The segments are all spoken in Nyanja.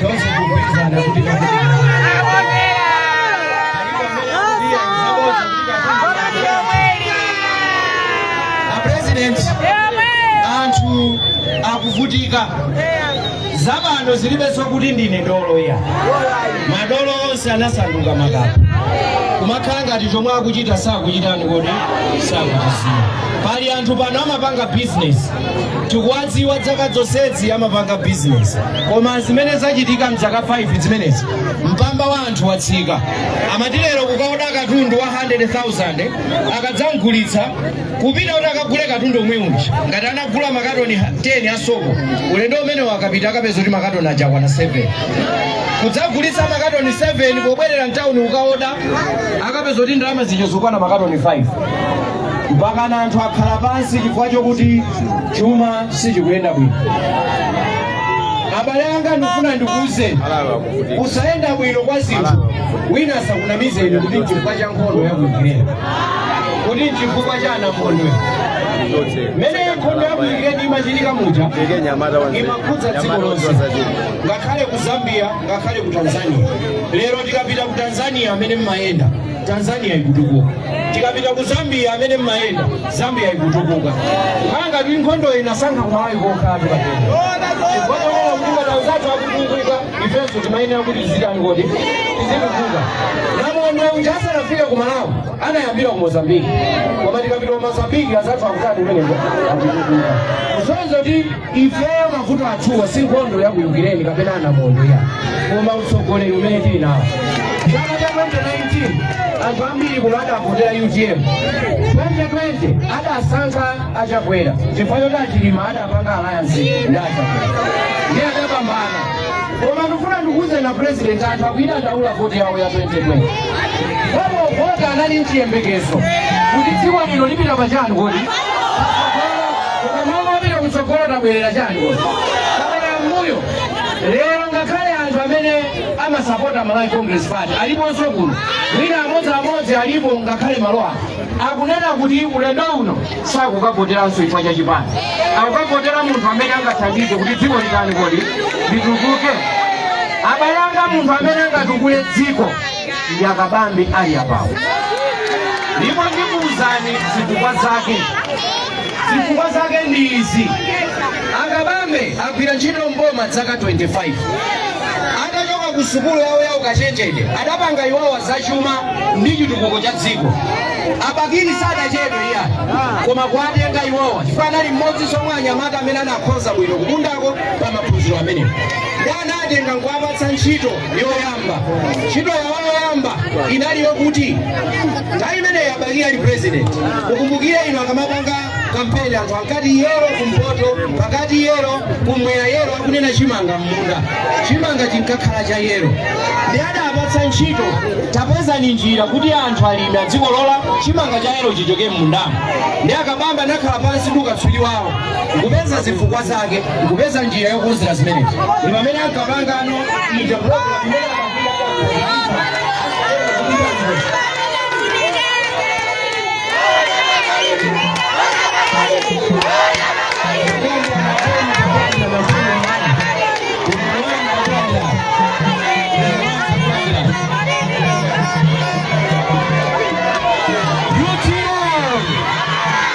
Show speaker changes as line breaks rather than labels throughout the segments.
tonse tikupikisana kuti apresident anthu akuvutika zapano zilibenso kuti ndine dolo ayi madolo onse anasanduka makape kumakhala ngati chomwe akuchita sakuchitani kodi sakuchiziwa pali anthu pano amapanga bizinesi tikuwadziwa dzaka zonsezi amapanga bizinesi koma zimene zachitika mdzaka 5 zimenezi mpamba wa anthu watsika amati lero kukaoda katundu wa 100000 akadzamgulitsa kupita kuti akagule katundu yemwe uja ngati anagula makatoni 10 asoko ulendo umenewo akapita akapeza kuti makatoni aja akwana 7 kudzagulitsa makatoni 7 pobwerera mtawuni kukaoda akapeza kuti ndalama zija zakwana makatoni 5 mpakana anthu akhala pansi chifukwa chokuti chuma sichikuyenda bwino abale anga ndifuna ndikuuzeni kusayenda bwino kwa zinthu wina asakunamizeni kuti nchifukwa cha nkhondo ya ku Ukraine kuti nchifukwa cha anamondwe mmene nkhondo ya ku Ukraine imachitika muja imakhudza dziko lonse ngakhale ku Zambia ngakhale ku Tanzania lero tikapita ku Tanzania amene mmayenda Tanzania ikutukuka tikapita ku Zambia amene mmayenda Zambia ikutukuka nanga ndiye nkhondo inasankha ku malawi kokha kapena kuti ngati anzathu akutukuka ifenso timayenera kuti tizitani kodi tizitukuka namondwe uja asanafika ku malawi anayambira ku mozambiki koma tikapita ku mozambiki anzathu akutani kumeneko akutukuka kusonyeza kuti ifeyo mavuto athuwa si nkhondo ya kuyukireni kapena anamondwe ayi koma utsogoleri umene tili nawo chaka cha 2019 anthu ambiri kuno adavotera utm 2020 adasankha achakwera chifukwa choti achilima adapanga alliance ndi achakwera ndiye adapambana koma ndifuna ndikuuzeni a president anthu akuidandaula voti yawo ya 2020 pomavota anali nchiyembekezo kuti dziko lino lipita pachani kodi koma mmalo mopita kutsogolo tabwerera chani kodi tabwerera mmbuyo lero ngakhale anthu amene amasapota malawi congress party aliponso kuno wina amodzi amodzi alipo ngakhale mwa iwo akunena kuti ulendo uno sakukavoteranso chifukwa cha chipani akukavotera munthu amene angathandize kuti dziko litani kodi litukuke abale anga munthu amene angatukule dziko ndi a Kabambe ali apawo ndipo ndikuwuzani zifukwa zake zifukwa zake ndi izi a Kabambe agwira ntchito mboma dzaka 25 atachoka ku sukulu yawo ya ukachenjede adapanga iwowa zachuma ndi chitukuko cha dziko a Bakili sadachedwe iyayi koma kuwatenga iwowa chifukwa anali mmodzinso mwa anyamata amene anakhoza bwino ku Bundako pa maphunziro amenewo ndiye anawatenga nkuwapatsa ntchito yoyamba ntchito yawo yoyamba inali yokuti nthawi imeneyi a Bakili ali president mukumbukire inu akamapanga kampeni anthu ankati yellow kumpoto pakati yellow kumwera yellow akunena chimanga m'munda chimanga chinkakhala cha yellow ndiye adawapatsa ntchito tapezani njira kuti anthu alimi adzikolola chimanga cha yellow chichoke m'mundamo ndiye a Kabambe anakhala pansi ndi ukatswiri wawo nkupeza zifukwa zake nkupeza njira yokonzera zimenezi ndi pamene ankapangano ija program imene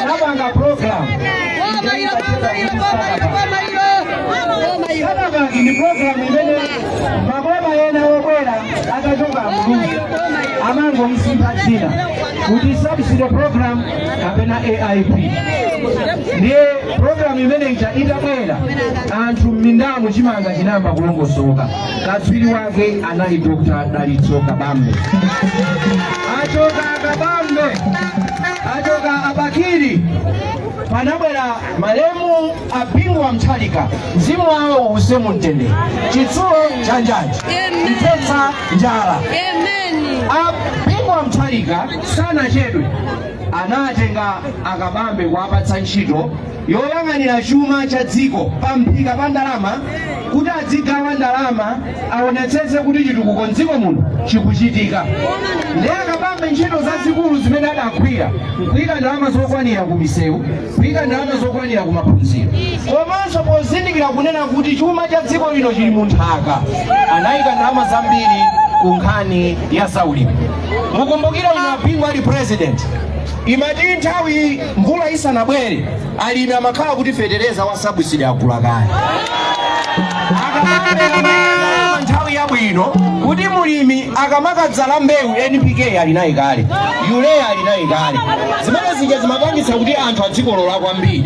anapanga program Starter Pack ndi program imene maboma ena obwera atachoka Muluzi amangomsintha dzina kuti subsidy program kapena AIP ndiye program imene ija itabwera anthu m'mindamu chimanga chinayamba kulongosoka katswiri wake anali Dr. Dalitso Kabambe achoka a Kabambe achoka a Bakili panabwera malemu a Bingu wa Mutharika mzimu wawo uuse mu mtendere chitsulo cha njanji mthetsa njala a Bingu wa Mutharika sanachedwe anawatenga a Kabambe kuwapatsa ntchito yoyang'anira chuma cha dziko pa mphika pa ndalama kuti adzigawa ndalama aonetsetse kuti chitukuko mdziko muno chikuchitika ndiye a Kabambe ntchito zazikulu zimene adagwira nkuyika ndalama zokwanira ku misewu kuyika ndalama zokwanira ku maphunziro komanso pozindikira kunena kuti chuma cha dziko lino chili mu nthaka anayika ndalama zambiri ku nkhani ya zaulimi mukumbukire inu a Bingu ali president imati nthawi Mvula isanabwere alimi amakhala kuti fetereza wa sabusidi agula kale Akamapereka nthawi yabwino kuti mulimi akamakadzala mbewu npk ali naye kale urea ali naye kale zimene zija zimapangitsa kuti anthu adzikolola kwambiri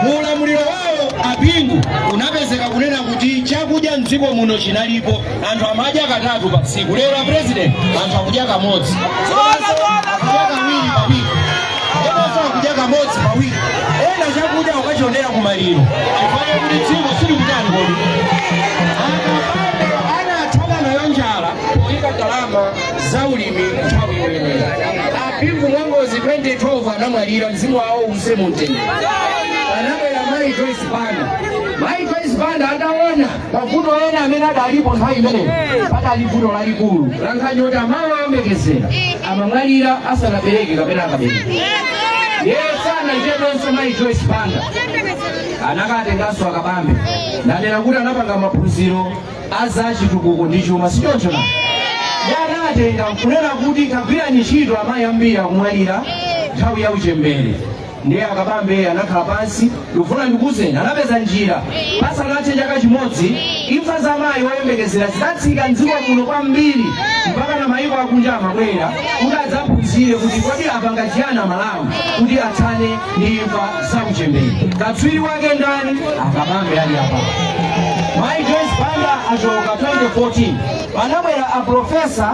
mu ulamuliro wawo abingu unapezeka kunena kuti chakudya mdziko muno chinalipo anthu amadya katatu pa tsiku lero a president anthu akudya kamodzi akudya kawiri pa wiki ena sakudya kamodzi pa wiki ena chakudya kukachionera kumaliro chifukwa chakuti dziko silikutani kodi akabambe anathana nayo njala poyika ndalama za ulimi nthawi yoyenera abingu mwangozi 2012 anamwalira mzimu wawo uuse mumtendere anabwera mayi joyce banda mayi joyce banda ataona mavuto ena amene adalipo nthawi imeneyo padali vuto lalikulu lankhani yoti amayi oyembekezera amamwalira asanabereke kapena akabereka ndiye sanachedwenso mayi joyce banda anakatenganso akabambe nanena kuti anapanga maphunziro a za chitukuko ndi chuma sichoncho na iye anatenga nkunena kuti kagwirani ntchito amayi ambiri akumwalira nthawi ya uchembere ndiye akabambe anakhala pansi ndikufuna ndikuuzeni anapeza njira pasanathe chaka chimodzi imfa za mayi woyembekezera zinatsika mdziko muno kwambiri mpaka na mayiko akunja amabwera kuti adzaphunzire kuti kodi apanga chiyani amalawi kuti athane ndi imfa za uchembere katswiri wake ndani akabambe ali apa mayi joyce banda achoka 2014 panabwera aprofesa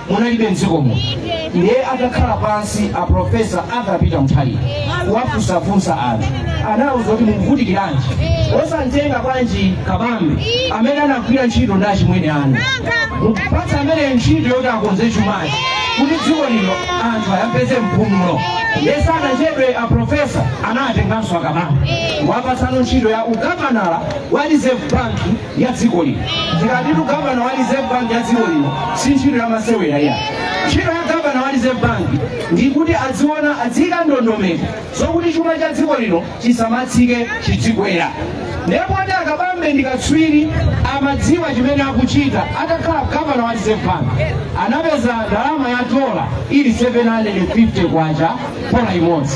munalibe mdziko muno ndiye atakhala pansi a profesa arthur peter mutharika kuwafunsafunsa anthu anawauza kuti mukuvutikiranji osamtenga bwanji kabambe amene anagwira ntchito ndi achimwene anu mumupatse amene ntchito yoti akonze chumachi kuti dziko lino anthu ayapeze mpumulo ndiye sanachedwe a profesa anatenganso akabambe kuwapatsano ntchito ya ugavanala wa reserve bank ya dziko lino tikatitu gavana wa reserve bank ya dziko lino si ntchito ya masewera iya ntchito ya gavana wa reserve bank ndikuti adziona adziyika ndondomeko zokuti chuma cha dziko lino chisamatsike chidzikwera ndiye poti akabambe ndikatswiri amadziwa chimene akuchita atakhala gavana wa reserve bank anapeza ndalama ya dola ili 750 kwacha dola imodzi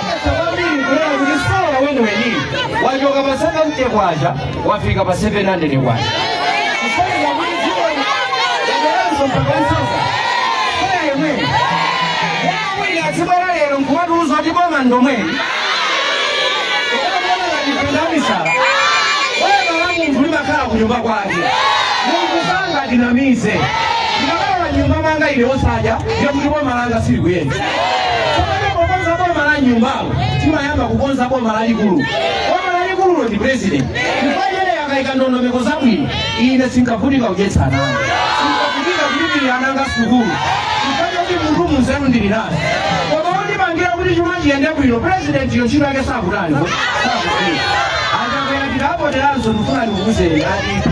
wachoka pa 70 kwacha wafika pa 700 kwacha kusonyeza kuti dziko yaberanso mpaka nsonga kaya yemwe wawiri atsibala lero nkumatiuza kuti boma ndomweli ndamisala boma la munthu limakhala ku nyumba kwake munthu sangatinamize ndikakhala nyumba mwanga ine osadya ndiye kuti boma langa silikuyenda Pamene pokonza boma la nyumbalo timayamba kukonza boma lalikulu. Boma lalikululo ndi president. Chifukwa chene akaika ndondomeko zabwino ine sinkavutika kudyetsa ana anga. Sinkavutika kulipirira ana anga sukulu. Chifukwa choti munthune nzeru ndili nazo. Koma wondipangira kuti chuma chiyende bwino president yo ntchito yake sakutani. Sakutani. Achakwera tikavoteranso ndifuna ndikuuzeni atipha.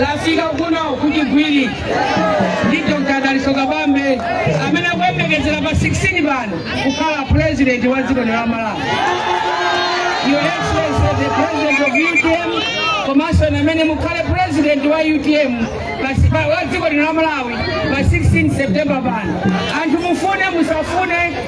lafika kuno ku chigwiri ndi dr daliso kabambe amene akuyembekezera pa 16 pano kukhala president wa dziko lino la malawi your excellency the president of utm komanso inu amene mukhale president wa utm pa- pa- wa dziko lino la malawi pa 16 september pano anthu mufune musafune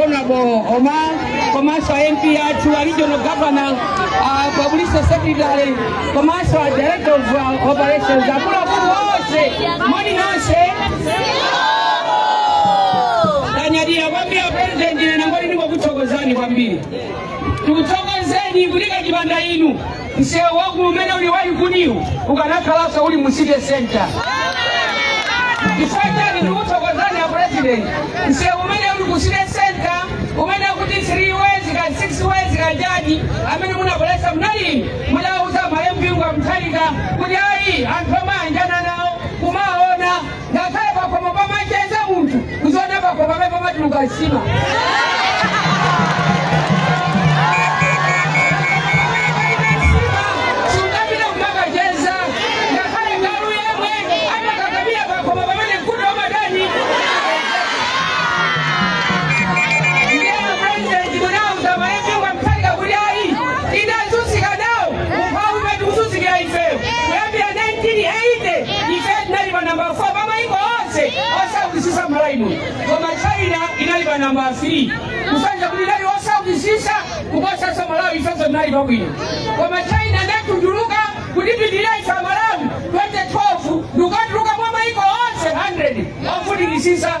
Honorable Omar komanso a MP athu a regional governor a public secretary komanso a director of uh, operations akuluakulu onse moni nonse tanyadira kwambiri a president ine nangoti ndikukuthokozani kwambiri tikuthokozeni kuti kachipanda inu msewu waukulu umene uli wa likuniwu ukanakhalanso uli mu city center chifukwa chani ndikuthokozani a president msewu umene uli ku city center umene akuti 3 ways kaya 6 ways kaya chani amene munabweretsa munali inu mudauza malemu bingu wa mutharika kuti ayi anthu omayanjana nawo kumaona ngakhale pakhomo pamacheza munthu uziona pakhomo pamene pamatuluka nsima sungapita kumakacheza ngakhale galu yemwe amakakamira pakhomo pamene mkute umatani ndiye a pulezidenti munauza malemu bingu wa mutharika kuti ayi china yazunzika nawo umphawi umene tikuzunzikira ifeyo kuyambira 1980 ife tinali pa namba 4 pa maiko onse osaukisisa malawi muno koma china inali pa namba 3 kusonyeza kuti inali osaukisisa kuposaso malawi ifenso tinali pabwino koma china inatunduluka kutipitirira ife amalawi 2012 ndikukatuluka mwa maiko onse 100 ofunikisisa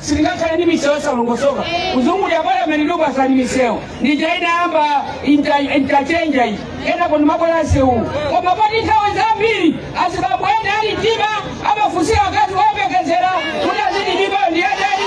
sitingakhale ndi misewu yosalongosoka kuzungulira palameni ndikupasani misewu ndija inayamba inta- interchange iyi kenako ndimabwera msewuwu koma poti nthawi zambiri azibambo ena ali mtima amafunsira akazi oyembekezera kuti aziti mimbayo ndi yandani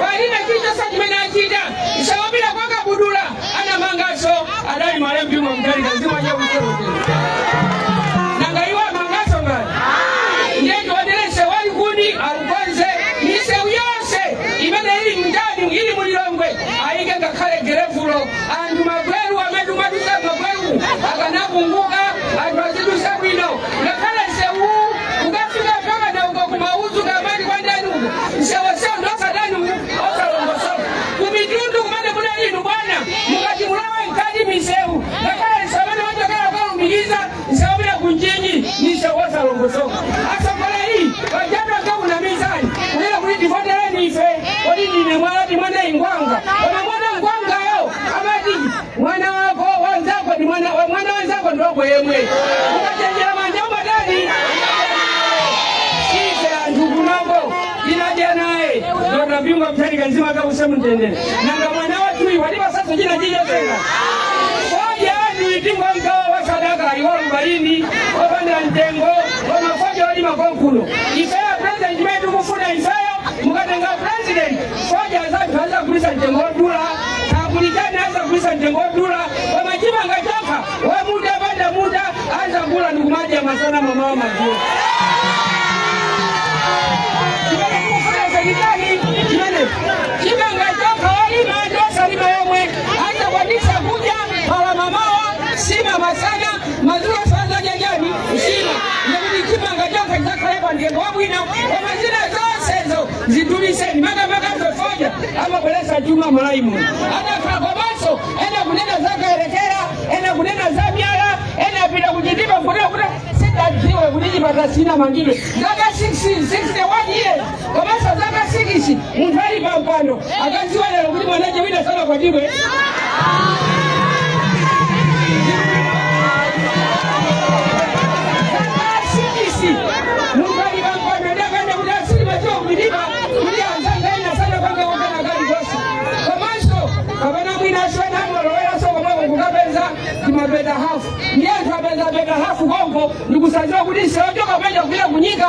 palibe chilichonse chimene achita msewu wopita kwa kabudula anamanganso adali a Bingu wa Mutharika zinthu zakutero nanga iwo amanganso ngati ndi wayalesi wa Likuni aukonze misewu yonse imene ili mtauni ili mulilongwe ayike ngakhale gelevulo anthu mavuto amene timadutsa mavuto akanapunguka anthu azidutsa bwino ngakhale msewu ukafika mpaka na uko kumauzu kamati kwa ndani uko msewu wake ndosatani osalongosoka kumitundu kumene kuna inu bwana mukati mulawe mkati miseu ngakhale msewu umene wachokera ukalumikiza msewu wopita ku Mchinji ni mseu wosalongosoka asokola iyi wajatu akunamizani kunena kuti tivotereni ife kodi ndine mwalati mwana ngwanga koma mwana ngwangayo amati mwana wako wanzako ndi mwana wa- mwana wanzako ndi wako yemwe ukachenjera manja umatani ife anthu kunoko tinadya naye dr bingu wa Mutharika mzimu wake uuse mumtendere nanga mwana wathuyu watipatsanso china chija tenga fodya anthu itingo mkawa wa sadaka iwo alubaini opanda mtengo wamafodya wolima konkuno ifeyo president amene tikufuna ifeyo mukatenga president fodya wathu azagulitsa mtengo wodula tapulikani azagulitsa mtengo wodula koma chimanga chokha wamuda panda muda azagula ndikumadya masana mamawa madzulo chimene tikufuna serikali imene chimanga chokha olima ndi osalima yomwe azakwanisa kudya pala mamawa sima masana madzulo azadya chani sima ndikuti chimanga chokha chizakhale pa mtengo wabwino koma zina zonsezo zidulitseni makamaka za fodya amabweretsa chuma mmalawi muno ananka komanso ena kunena za Kayelekera ena kunena za myala ena apita ku Chitipa kuda kuda sitidziwe kuti chipata sichinamangidwe zaka 60 61 years komanso zaka 6 munthu ali pampando akadziwa lero kuti mwana wina sanakwatiwe asibisi munthu ali pampando ndakana kuti asili madziwa kuliba kuti anzanga ena sanapanga kukana kali konse komanso kapena mwina asiwana angoloweranso komweko kukapeza timapeta hafu ndiye anthu apeza peta hafu konko ndikusadziwa kuti msewu ochoka peta kupita kunyika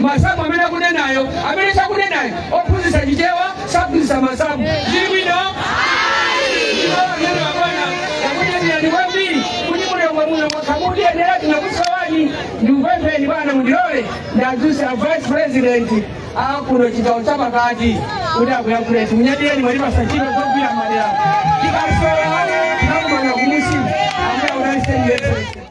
masamu amene akunenayo amene sakunenayo ophunzitsa chichewa saphunzitsa masamu zili bwino ine bwana ndakunyadilani kwambiri kuti muno mwamuno mwabwera kutiyendera tinakusowani ndikupempheni bwana mundilole ndadzuse a vice president akuno chigawo cha pakati kuti akuyankhuleni munyadireni mwatipasa ntchito zogwira madera tikasowa tinakumana kumusi ambuya unalisendese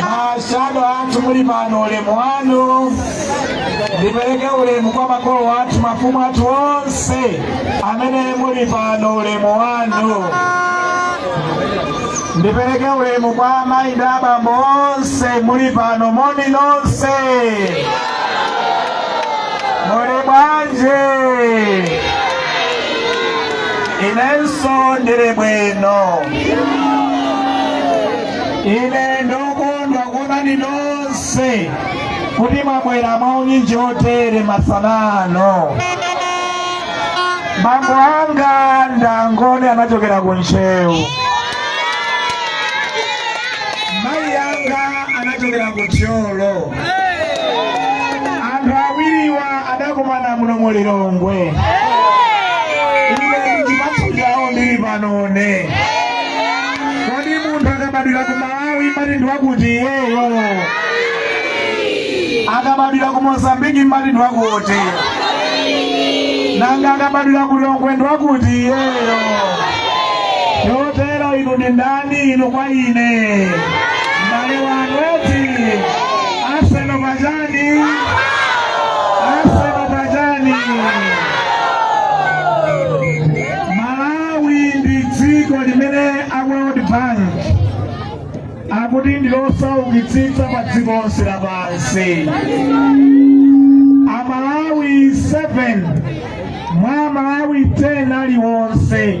mashado athu muli pano ulemu wanu ndipereke ulemu kwa makolo athu mafumu athu onse amene muli pano ulemu wanu ndipereke ulemu kwa amayi ndi abambo onse muli pano moni nonse muli bwanji inenso ndili bwino ine ndokondwa kuonani nonse kuti mwabwera mwaunyinji chotere masana ano bambo anga ndi angoni anachokera ku ntcheu mayi anga anachokera ku thyolo anthu awiriwa adakumana muno mu lilongwe ine chipatso chawo ndili panone kodi munthu akabadwira ku malawi timati ndi wakuti iyeyo akabadwira ku mozambiki timati ndi wakuti nanga akabadwira ku lilongwe ndi wakuti iyeyo chotero inu ndi ndani inu kwa ine Mbale wanu eti Arsenal majani, Arsenal majani. Malawi ndi dziko limene a World Bank akuti ndi losaukitsitsa pa dziko lonse lapansi. Amalawi 7 mwa Amalawi 10 aliwonse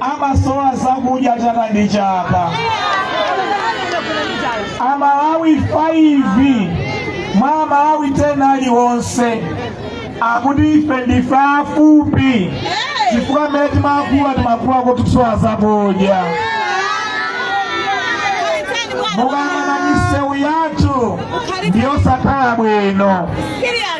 amasowa zakudya chaka ndi chaka amalawi 5 mwa amalawi 10 aliwonse akuti ife ndife afupi chifukwa mmene timakula timakula tikusowa zakudya mukayang'ana misewu yathu ndiyosakhala bwino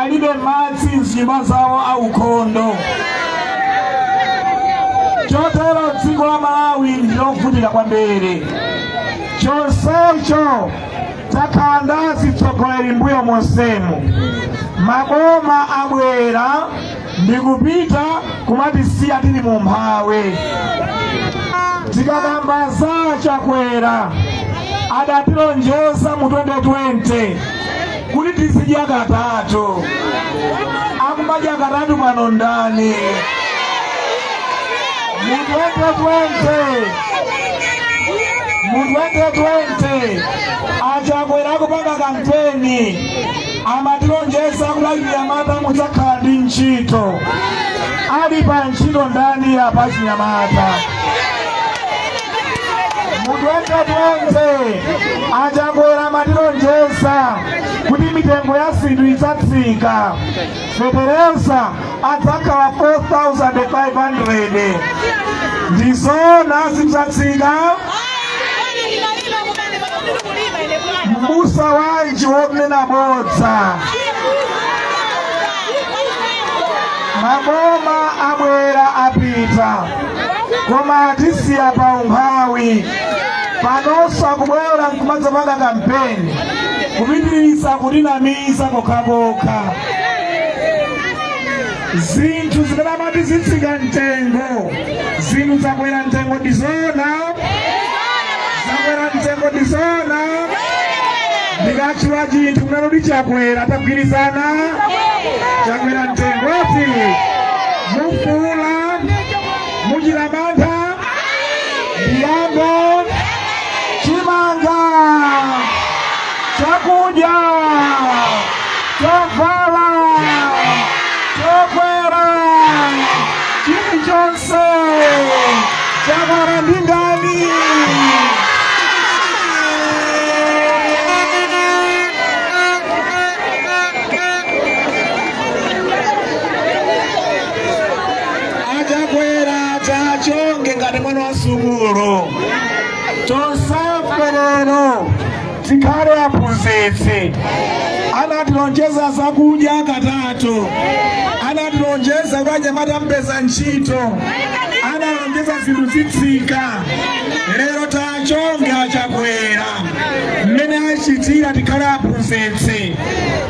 alibe madzi m'zinyumba zawo aukhondo chotero dziko la malawi ndilovutika kwambiri chonsecho takhala ndi atsogoleri mbuyo monsemu maboma abwera ndikupita kumatisiya tili mu umphawi tikakamba za achakwera adatilonjeza mu 2020 kuti tizidya katatu akumadya katatu pano ndani mu 2020 mu 2020 achakwera akupanga kampeni amatilonjeza kuti achinyamata mudzakhala ndi ntchito ali pa ntchito ndani apa achinyamata mu 2020 a Chakwera amatilonjeza kuti mitengo ya zinthu idzatsika fetereza adzakhala 4500 ndi zoona zidzatsika mbusa wanji wonena bodza maboma abwera apita koma atisiya pa umphawi panonso akubwera nkumadzapanga kampeni kupitiriza kutinamiza kokhakokha zinthu zimene amati zitsika mtengo zinthu zakwera mtengo ndi zoona zakwera mtengo ndi zoona ndikatchula chinthu kunena kuti chakwera mugwirizana chakwera mtengo ati mufuula muchita mantha ndiyambe chimanga chakudya chovala chokwera chilichonse chakwera ndi ndani a Chakwera tachonga ngati mwana wa sukulu tonsefe lero tikhale aphunzitsi anatilonjeza zakudya katatu anatilonjeza kuti anyamata mupeza ntchito analonjeza zinthu zitsika lero tiachonge a Chakwera mmene achitira tikhale aphunzitsi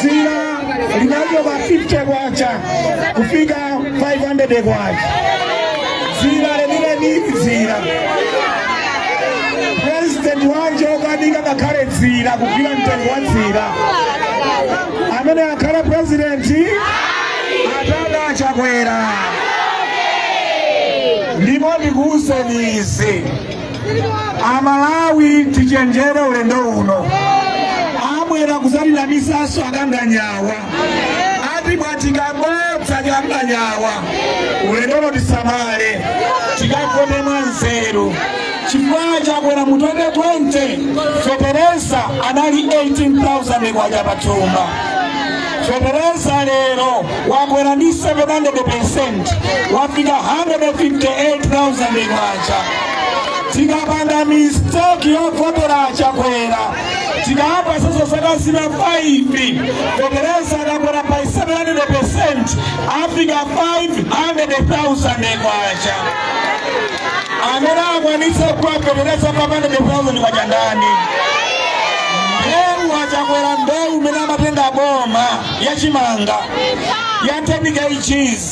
dzira linachoka 50 kwacha kufika 500 kwacha dzira lenileni dzira president wanji okanika ngakhale dzira kugwira mtengo wa dzira amene akhale president atchonge a Chakwera ndipo ndikuwuzeni izi amalawi tichenjere ulendo uno abwera kudzatinamizanso a Kanganyawa atibwatika bodza kanganyawa ulendo uno tisamale tikavote mwanzeru chifukwa chakwera mu 2020 fetereza anali 18000 kwacha pathumba fetereza lero wakwera ndi 700 wafika 158000 kwacha tikapanda mistake yovotera achakwera tikayamba soso zaka zina 5 fetereza akakwera pa 700 percent afika 500,000 kwacha amene akwanitsa kugula fetereza 500,000 kwacha ndani mbewu achakwera mbewu imene amatenga boma yachimanga yatenika ichizi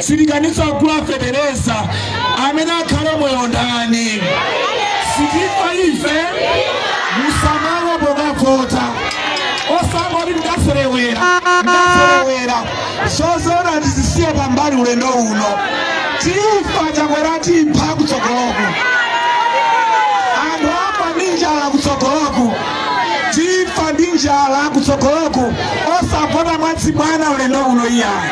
sitikwanitsa kugula fetereza amene akhale moyo ndani sitifa ife musamala pokavota osangoti ndaserewera ndaserewera zosewera tizisiye pambali ulendo uno tifa chakwera tipha kutsogoloku anthu apa ndi njala kutsogoloku tifa ndi njala kutsogoloku osavota mwachibwana ulendo uno iyayi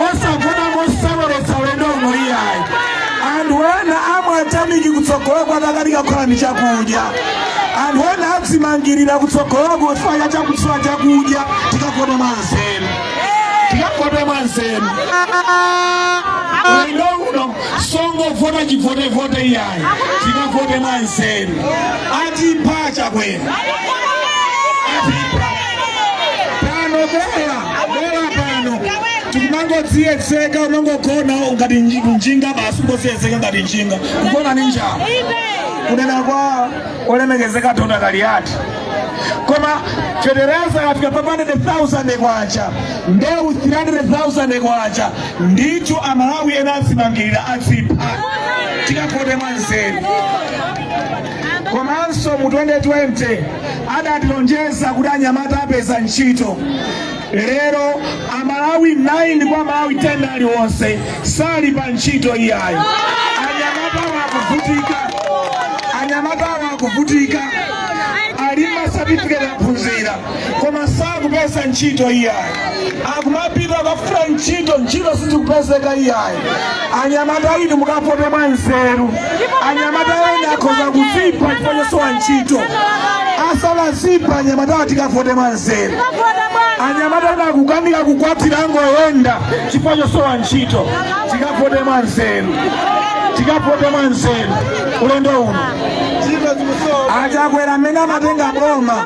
osavota moseweretsa ulendo uno iyayi anthu ena amwa tameki kutsogoloku atakanika kukhala ndi chakudya anthu ena adzimangirira kutsogoloku chifukwa chakusowa chakudya tikavote mwanzeru tikavote mwanzeru ulendo uno osangovota chivotevote iyayi tikavote mwanzeru atipha chakwera atipha pano bera Bora pano tikumangodziyedzeka umangogona ngati nji- njinga basi ungodziyedzeka ngati njinga kugona ni njala kunena kwa olemekezeka dona kaliyati koma fetereza yafika pa 100,000 kwacha mbewu 300,000 kwacha ndicho amalawi ena azimangirira adzipha tikavote mwa nzeru komanso mu 2020 adatilonjeza kuti anyamata apeza ntchito lero amalawi 9 mwa amalawi 10 aliwonse sali pa ntchito iyayi anyamatawa akuvutika anyamatawa akuvutika ali ndi ma certificate aphunzira koma sakupeza ntchito iyayi akumapita kukafuna ntchito ntchito sizikupezeka iyayi anyamata inu mukavote mwa nzeru anyamata ena akhoza kuzipha chifukwa chosowa ntchito asanazipha anyamatawa tikavote mwa nzeru anyamata ena akukanika kukwatira akungoyenda chifukwa chosowa ntchito tikavote mwa nzeru tikavote mwa nzeru ulendo uno achakwera amene amatenga boma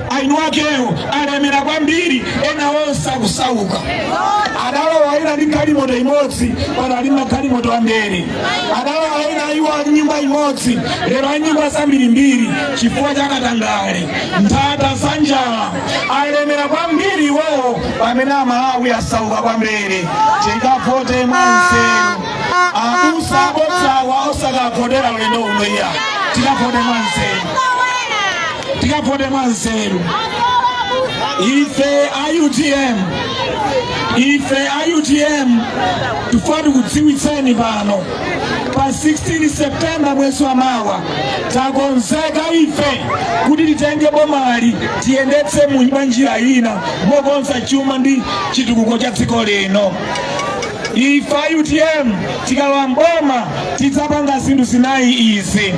eni akewo alemera kwambiri ena onse akusauka adalowa ena ndi galimoto imodzi pano ali magalimoto ambiri adalowa ena iwo ali nyumba imodzi lero ali nyumba zambirimbiri chifukwa cha katangale nthata za njala alemera kwambiri iwowo pamene amalawi asauka kwambiri tikavote mwanzeru abusa abodzawa osakavotera ulendo uno iya tikavote mwanzeru tikavote mwanzeru ife a utm ife a utm tifuna tikudziwitseni pano pa 16 septemba mwezi wa mawa takonzeka ife kuti titenge bomali tiyendetse mu mwa njira ina mokonza chuma ndi chitukuko cha dziko lino ife a utm tikalowa mboma tidzapanga zinthu zinayi izi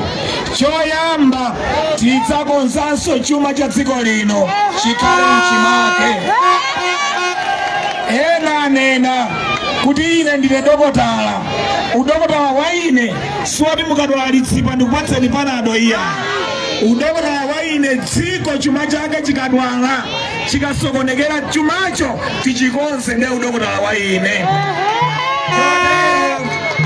Choyamba, tidzakonzanso chuma cha dziko lino chikhale m'chimake. Ena anena kuti ine ndine dokotala. Udokotala wa ine siwoti mukadwala litsipa ndikupatseni panado iya. Udokotala wa ine dziko chuma chake chikadwala chikasokonekera chumacho tichikonze ndiye udokotala wa ine.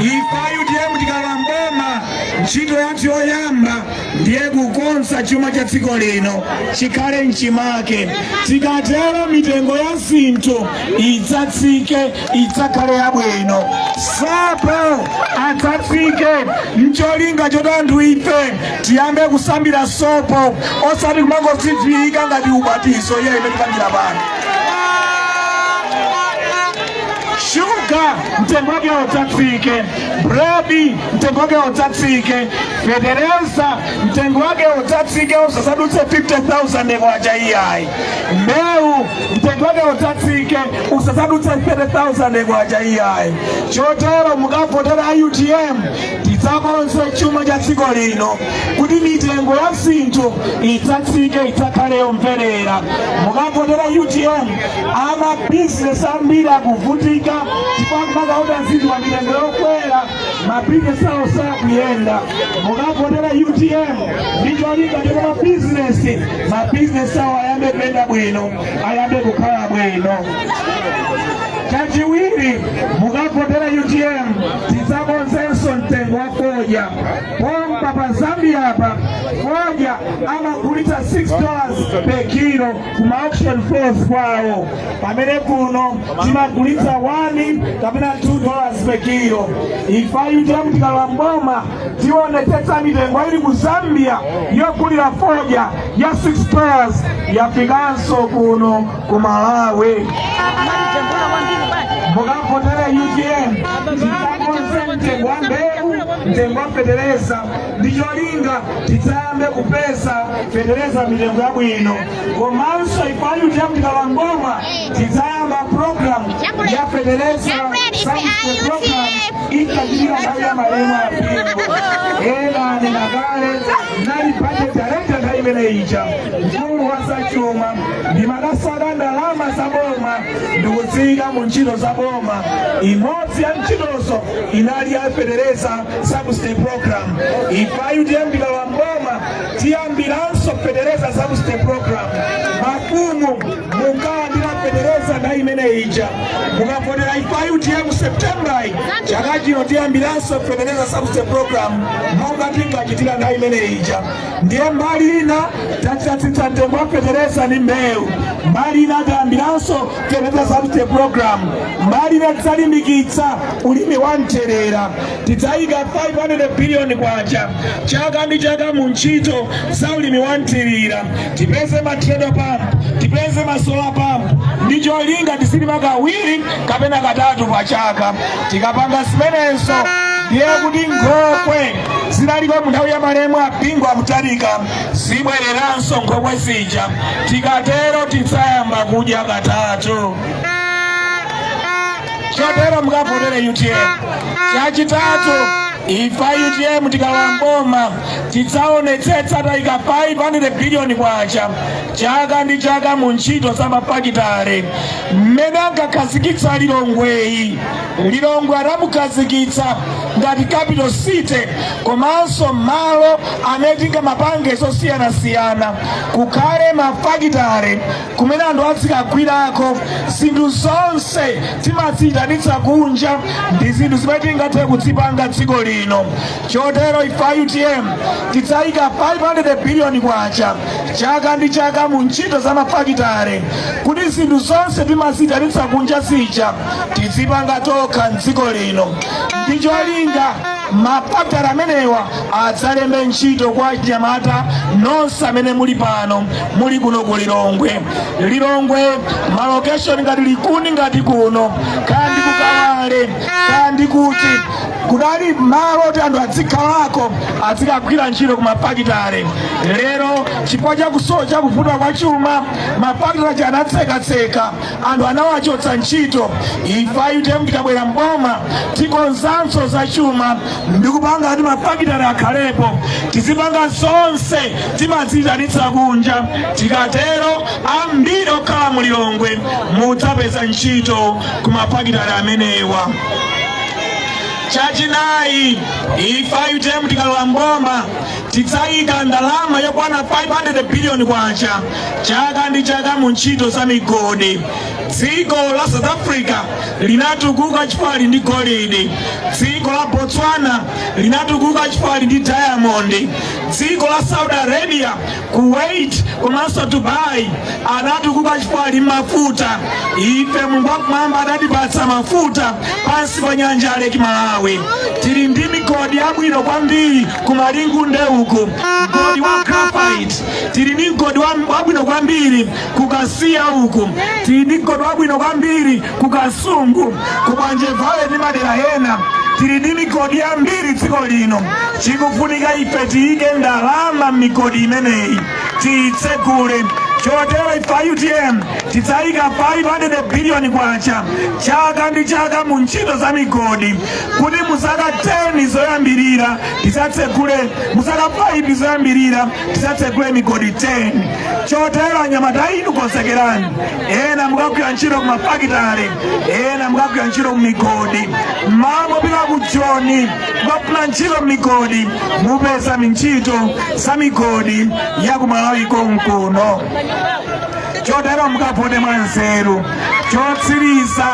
Ife a UTM tikalowa mboma ntchito yathu yoyamba ndiye kukonza chuma cha dziko lino chikhale mchimake. Tikatero mitengo ya zinthu idzatsike, idzakhale yabwino. Sopo adzatsike mcholinga choti anthu ife tiyambe kusambira sopo osati kumangodziviika ngati ubatizo iya mmene tipangira pano shuga mtengo wake udzatsike buledi mtengo wake udzatsike fetereza mtengo wake udzatsike usasadutse 50000 kwacha iyayi mbewu mtengo wake udzatsike usasadutse 30000 kwacha iyayi chotero mukavotera a utm tidzakonze chuma cha dziko lino kuti mitengo ya zinthu idzatsike idzakhale yomverera mukavotera utm amabizinesi ambiri akuvutika chifukwa kumakaoda zinthu pa mitengo yokwera mabizinesi awo sakuyenda mukavotera utm ndi cholinga choti mabizinesi mabizinesi awo ayambe kuyenda bwino ayambe kukhala bwino chachiwiri mukavotera utm tidzakonzenso mtengo wa fodya pompa pa zambia apa fodya amagulitsa 6 dollars per kilo kuma auction floors kwawo pamene kuno timagulitsa 1 kapena 2 dollars per kilo ife a utm tikalowa mboma tionetsetsa mitengo ili ku zambia yogulira fodya ya 6 dollars yafikanso kuno ku malawi mukavotera utm tikakonze mtengo wa mbewu mtengo wa fetereza ndi cholinga tidzayambe kupeza fetereza mitengo yabwino komanso ife a utm tikalowa mboma tidzayamba program ya fetereza subsidy program inali ija nthawi ya malemu a bingu ena anena kale ndinali budget director nthawi imeneyi ija mkulu wa zachuma ndimatsata ndalama za boma ndikuziika mu ntchito za boma imodzi ya ntchitozo inali ya fetereza Subsidy program ife a utm tikalowa mboma tiyambiranso fetereza subsidy program mafumu munkalandira fetereza nthawi imeneyi ija mukavotera ife a utm mu september yi chaka chino tiyambiranso fetereza subsidy program monga tinkachitira nthawi imeneyi ija ndiye mbali ina tatsitsa mtengo wa fetereza ndi mbewu mbali ina tayambiranso fetereza subsidy program mbali ina tidzalimbikitsa ulimi wa mthirira tidzayika 500 biliyoni kwacha chaka ndi chaka mu ntchito za ulimi wa mthirira tipeze ma treadle pump tipeze ma solar pump ndi cholinga tizilima kawiri kapena katatu pa chaka tikapanga zimenezo ndiye kuti nkhokwe zinaliko mu nthawi ya malemu a bingu wa mutharika zibwereranso nkhokwe zija tikatero tidzayamba kudya katatu chotero mukavotere utm chachitatu ife a utm tikalowa mboma tidzaonetsetsa tayika 500 biliyoni kwacha chaka ndi chaka mu ntchito za mafakitale mmene ankakhazikitsa lilongweyi Lilongwe anamukhazikitsa ngati capital city komanso malo amene tingamapange zosiyanasiyana kukhale mafakitale kumene anthu azikagwirako zinthu zonse timaziyitanitsa kunja ndi zinthu zimene tingathe kuzipanga dziko lino chotero ife a utm tidzayika 500 biliyoni kwacha chaka ndi chaka mu ntchito za mafakitale kuti zinthu zonse timaziyitanitsa kunja zija tizipanga tokha mdziko lino ndi cholinga mafakitale amenewa adzalembe ntchito kwa anyamata nonse amene muli pano muli kuno ku lilongwe lilongwe malokeshoni ngati likuni ngati kuno kaya ndi ku kawale kaya ndi kuti kudali malo oti anthu adzikhalako azikagwira ntchito ku mafakitale lero chifukwa chakusowa chakuvuta kwa chuma mafakitale anatsekatseka anthu anawachotsa ntchito ife a utm tikabwera mboma tikonzanso za chuma ndikupanga kuti mafakitale akhalepo tizipanga zonse timaziitanitsa kunja tikatero ambiri okhala mu lilongwe mudzapeza ntchito ku mafakitale amenewa chachinayi ife a utm tikalowa mboma Tidzayika ndalama yokwana 500 billion kwacha chaka ndi chaka mu ntchito za migodi. Dziko la South Africa linatukuka chifukwa lili ndi golidi. Dziko la Botswana linatukuka chifukwa lili ndi diamond. Dziko la Saudi Arabia, Kuwait komanso Dubai anatukuka chifukwa lili ndi mafuta. Ife Mulungu wakumwamba adatipatsa mafuta pansi pa nyanja ya Lake Malawi. Tili ndi migodi yabwino kwambiri. ku malingunde uku mgodi wa graphite tili ndi mgodi wabwino kwambiri ku kasiya uku tili ndi mgodi wabwino kwambiri ku kasungu ku bwanje valley ndi madera ena tili ndi migodi yambiri dziko lino chikufunika ife tiyike ndalama m'migodi imeneyi tiyitsegule chotero ife a utm tidzayika 500 biliyoni kwacha chaka ndi chaka mu ntchito za migodi kuti muzaka 10 zoyambirira tidzatsegule muzaka 5 zoyambirira tidzatsegule migodi 10 chotero anyamata inu konzekerani ena mukagwira ntchito ku mafakitale ena mukagwira ntchito ku migodi mmalo mopita ku joni kukafuna ntchito m'migodi mupeza ntchito za migodi ya ku malawi konkuno chotero mukavote mwa nzeru chotsiriza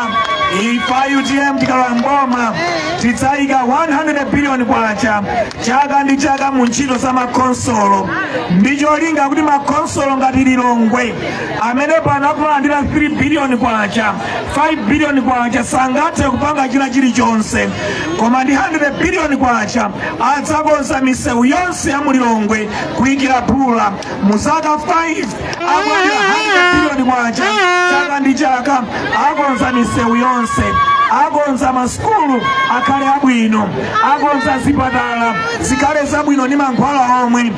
ife a utm tikalowa mboma tidzayika 100 biliyoni kwacha chaka ndi chaka mu ntchito za makhonsolo ndi cholinga kuti makhonsolo ngati lilongwe amene pano akumalandira 3 biliyoni kwacha 5 biliyoni kwacha sangathe kupanga china chilichonse koma ndi 100 biliyoni kwacha adzakonza misewu yonse ya mu lilongwe kuyikira phula mu zaka 5 akulandira 100 biliyoni kwacha chaka ndi chaka akonza misewu yonse akonza masukulu akhale abwino akonza zipatala zikhale zabwino ndi mankhwala omwe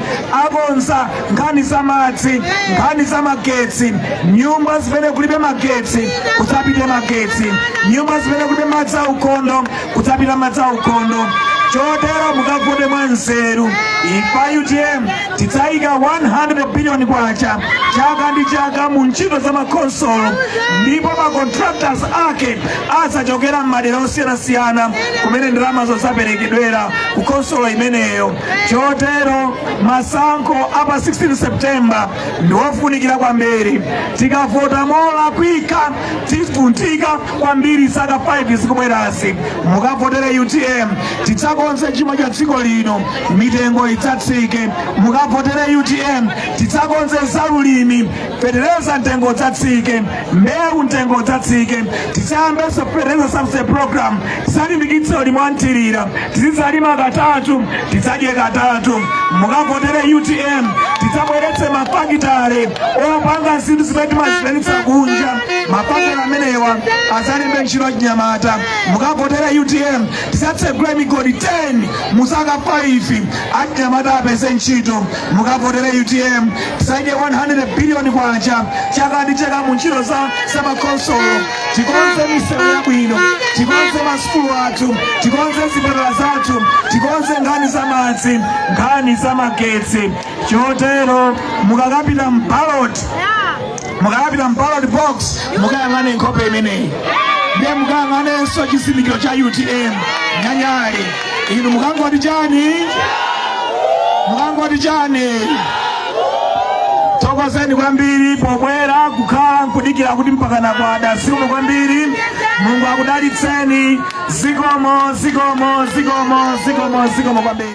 akonza nkhani za madzi nkhani za magetsi nyumba zimene kulibe magetsi kudzapite magetsi nyumba zimene kulibe madzi aukhondo kudzapita madzi aukhondo chotero mukavote mwa nzeru ife a utm tidzayika 100 billion kwacha chaka ndi chaka mu ntchito za makhonsolo ndipo ma contractors ake adzachokera m'madera osiyanasiyana kumene ndalamazo zaperekedwera ku khonsolo imeneyo chotero masankho a pa 16 september ndi ofunikira kwambiri tikavota molakwika tivutika kwambiri zaka 5 zikubwerazi mukavotere utm tidzakonze chuma cha dziko lino mitengo idzatsike mukavotere utm tidzakonze zaulimi fetereza mtengo udzatsike mbewu mtengo udzatsike tidzayambenso fetereza subsidy program tidzalimbikitse ulimi wa mthirira tizidzalima katatu tidzadye katatu mukavotere utm tidzabweretse mafakitale opanga zinthu zimene timaziitanitsa kunja mafakitale amenewa azalembe ntchito achinyamata mukavotere utm tizatsegule migodi 10 mu zaka 5 achinyamata apeze ntchito mukavotere utm tizaike 100 biliyoni kwacha chaka ndi chaka mu ntchito za zamakhonsolo tikonze misewu yabwino tikonze masukulu athu tikonze zipatala zathu tikonze nkhani za madzi nkhani za magetsi chotero mukakapita mbaloti mukapita mballot box mukayang'ane nkhope imeneyi ndiye mukayang'anenso chizindikiro cha utm nyale nyale inu mukangoti chani mukangoti chani thokozeni kwambiri pobwera kukhala nkudikira kuti mpakana kwada zikomo kwambiri mulungu akudalitseni zikomo zikomo zikomo zikomo zikomo kwambiri